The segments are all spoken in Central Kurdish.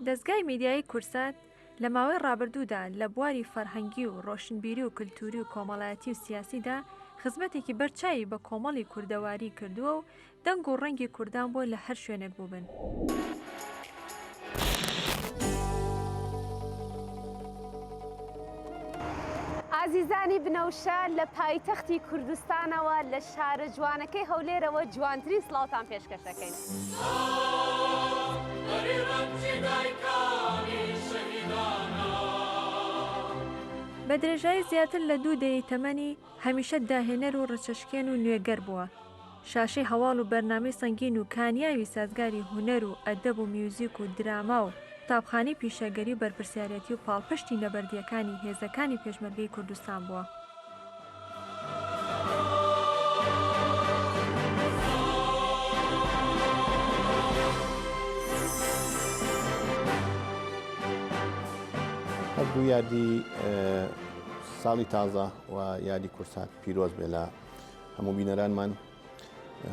دەزگای میدیایی کوردسات لە ماوەی ڕابردوودا لە بواری فەرهەنگی و ڕۆشنبیری و کلتووری و کۆمەڵایەتی و سیاسیدا خزمەتێکی بەر چاوی بە کۆمەڵی کوردەواری کردووە و دەنگ و ڕەنگی کوردان بووە لە هەر شوێنێک بووبن. ئازیزانی بنەوشە لە پایتەختی کوردستانەوە لە شارە جوانەکەی هەولێرەوە جوانترین سڵاوتان پێشکەش دەکەین. بە درێژایی زیاتر لە دوو دەیەی تەمەنی، هەمیشە داهێنەر و ڕچەشکێن و نوێگەر بووە، شاشەی هەواڵ و بەرنامەی سەنگین و کانیاوی سازگاری هونەر و ئەدەب و میوزیک و دراما و قوتابخانەی پیشەگەری و بەرپرسیارەتی و پاڵپشتی نەبەردییەکانی هێزەکانی پێشمەرگەی کوردستان بووە. هەر دوو یادی ساڵی تازە و یادی کورسات پیرۆز بێ لە هەموو بینەرانمان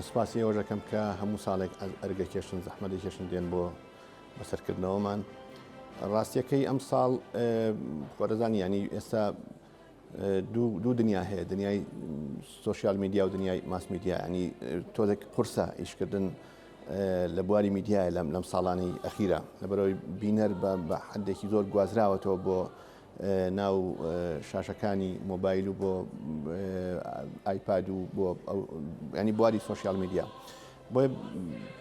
سوپاسی ئەوە دەکەم کە هەموو ساڵێک ئەرگە کێشن زەحمەتی کێشن دێن بۆ بەسەرکردنەوەمان ڕاستیەکەی ئەم ساڵ خۆرەزان ینی ئێستا دوو دنیا هەیە دنیای سوسیال میدیا و دنیای ماس میدیا ینی تۆزێک قورسە ئیشکردن لە بواری میدیایە لەم لەم ساڵانی ئەخیرە لەبەرەوەی بینەر بە حدێکی زۆر گوازراوەتەوە بۆ ناو شاشەکانی مۆبایل و بۆ ئایپاد و بۆ ینی بواری سوۆسیال میدیا بۆ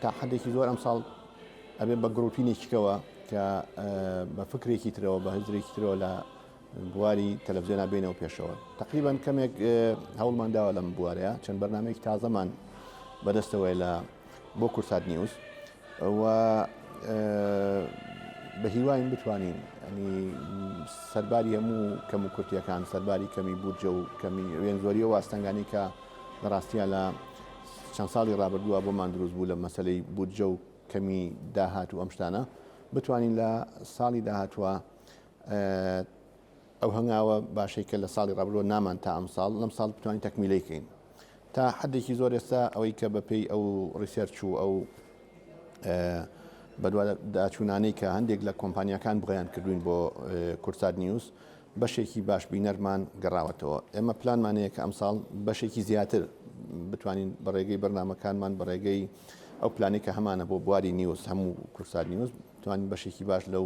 تا حدێکی زۆر ئەم ساڵ ئەبێ بە گرروپینێکیکەوە کە بە فکرێکی ترەوە بە هزرێکی ترەوە لە بواری تەلەڤزیۆنا بینەوە پێشەوە تقریبان کەمێک هەوڵمان داوە لەم بوارەیە چەند بەرنمەیەک تازەمان بەدەستەوەی لە بۆ کورسات نیوز و بە هیواین بتوانین ئەنی سەرباری هەموو کەم و کورتیەکان سەرباری کەمی بودجە و کەمی وێن زۆریە واستەنگانی کە لە ڕاستیە لە چەند ساڵی ڕابردووە بۆمان دروست بوو لە مەسلەی بودجە و کەمی داهات و ئەم شتانە بتوانین لە ساڵی داهاتوە ئەو هەنگاوە باشەی کە لە ساڵی ڕابردووە نامان تا ئەمساڵ، لەم ساڵ بتوانین تەکمیلەی کەین. تا حەدێکی زۆر ئێستا ئەوەی کە بە پێی ئەو ڕیسێرچ و ئەو بەدواداچوونانەی کە هەندێک لە کۆمپانیاکان بڵێیان کردووین بۆ کورسات نیوز، بەشێکی باش بینەرمان گەڕاوەتەوە. ئێمە پلانمان هەیە کە ئەمساڵ بەشێکی زیاتر بتوانین بە ڕێگەی بەرنامەکانمان بە ڕێگەی ئەو پلانێکە هەمانە بۆ بواری نیوز هەموو کورسات نیوز توانین بەشێکی باش لەو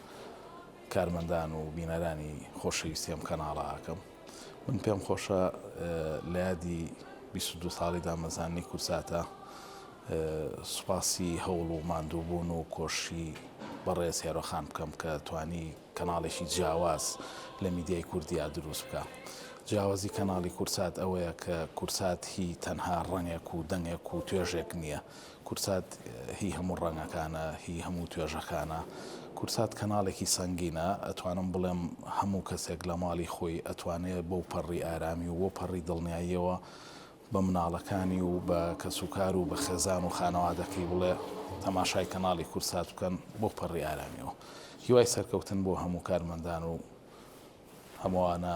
کارمەندان و بینەرانی خۆشەویستی ئەم کەناڵە ئاکەم من پێم خۆشە لە یادی 22 ساڵی دامەزانی کورساتە سوپاسی هەوڵ و ماندووبوون و کۆشی بەڕێز هێرۆخان بکەم کە توانی کەناڵێکی جیاواز لە میدیای کوردیا دروست بکە جیاوازی کەناڵی کورسات ئەوەیە کە کورسات هی تەنها ڕەنگێک و دەنگێک و توێژێک نییە کوردسات هی هەموو ڕەنگەکانە هی هەموو توێژەکانە کوردسات کەناڵێکی سەنگینە ئەتوانم بڵێم هەموو کەسێک لە ماڵی خۆی ئەتوانێ بەو پەڕی ئارامی و بۆ پەڕی دڵنیاییەوە بە مناڵەکانی و بە کەسوکار و بە خێزان و خانەوادەکەی بڵێ تەماشای کەناڵی کوردسات بکەن بۆ پەڕی ئارامیەوە هیوای سەرکەوتن بۆ هەموو کارمەندان و هەمووانە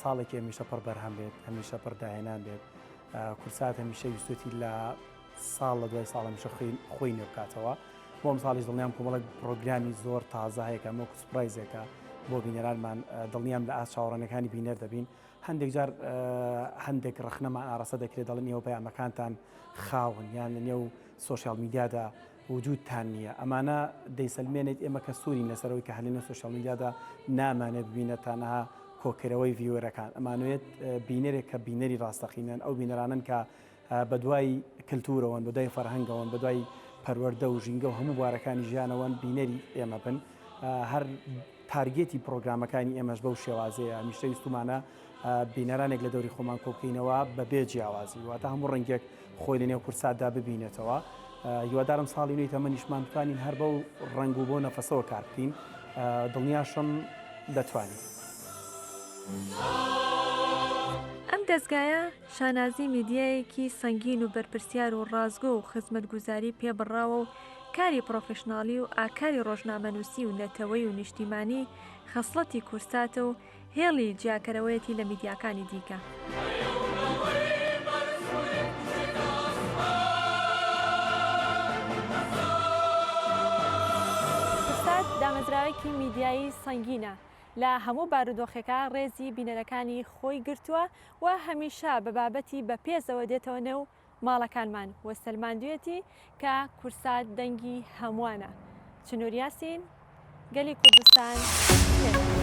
ساڵێکی هەمیشە پڕ بەرهەم بێت هەمیشە پڕ داهێنان بێت کورسات هەمیشە ویستێتی لە ساڵ لە دوای ساڵ هەمیشە خۆی نوێ بکاتەوە بۆم ساڵیش دڵنیام کۆمەڵک پرۆگرامی زۆر تازە هەیەکە مۆک سپرایزێکە بۆ بینەرانمان دڵنیام لە ئاست چاوەڕانەکانی بینەر دەبین هەندێک جار هەندێک ڕخنەمان ئاراستە دەکرێت دەڵن ئێوە پەیامەکانتان خاون یان لە نێو سوۆشیال میدیادا وجودتان نیە ئەمانە دەیسەلمێنێت ئێمە کە سورین لەسەر ئەوەی کە هەر لەنێو سۆشیال میدیادا نامانێت ببینە تەنها کۆکردنەوەی ڤیوەرەکان ئەمانەوێت بینەرێک کە بینەری ڕاستەقینەن ئەو بینەرانەن کە بەدوای کلتورەوەن بەدوای فەرهەنگەوەن بەدوای پەروەردە و ژینگە و هەموو بوارەکانی ژیانەوەن بینەری ئێمە بن هەر تارگێتی پڕۆگرامەکانی ئێمەش بەو شێوازەیە، هەمیشە ویستومانە بینەرانێک لە دەوری خۆمان کۆبکەینەوە بەبێ جیاوازی، واتە هەموو ڕەنگێک خۆی لە نێو کوردساتدا ببینێتەوە. هیوادارم ساڵی نوێی تەمەنیشمان بتوانین هەر بەو ڕەنگ و بەو نەفەسەوە کار بکەین، دڵنیاشم دەتوانین. ئەم دەزگایە شانازی میدیایەکی سەنگین و بەرپرسیار و ڕاستگۆ و خزمەتگوزاری پێ بڕاوە و کاری پڕۆفیشناڵی و ئاکاری ڕۆژنامەنووسی و نەتەوەی و نیشتیمانی خەسڵەتی کورساتە و هێڵی جیاکەرەوەیەتی لە میدیاکانی دیکە. کورسات دامەزراوەیەکی میدیایی سەنگینە، لە هەموو بارودۆخێکا ڕێزی بینەرەکانی خۆی گرتووە و هەمیشە بە بابەتی بەپێزەوە دێتەوە نێو ماڵەکانمان و سەلماندویەتی کە کورسات دەنگی هەموانە چنور یاسین گەلی کوردستان پێتان.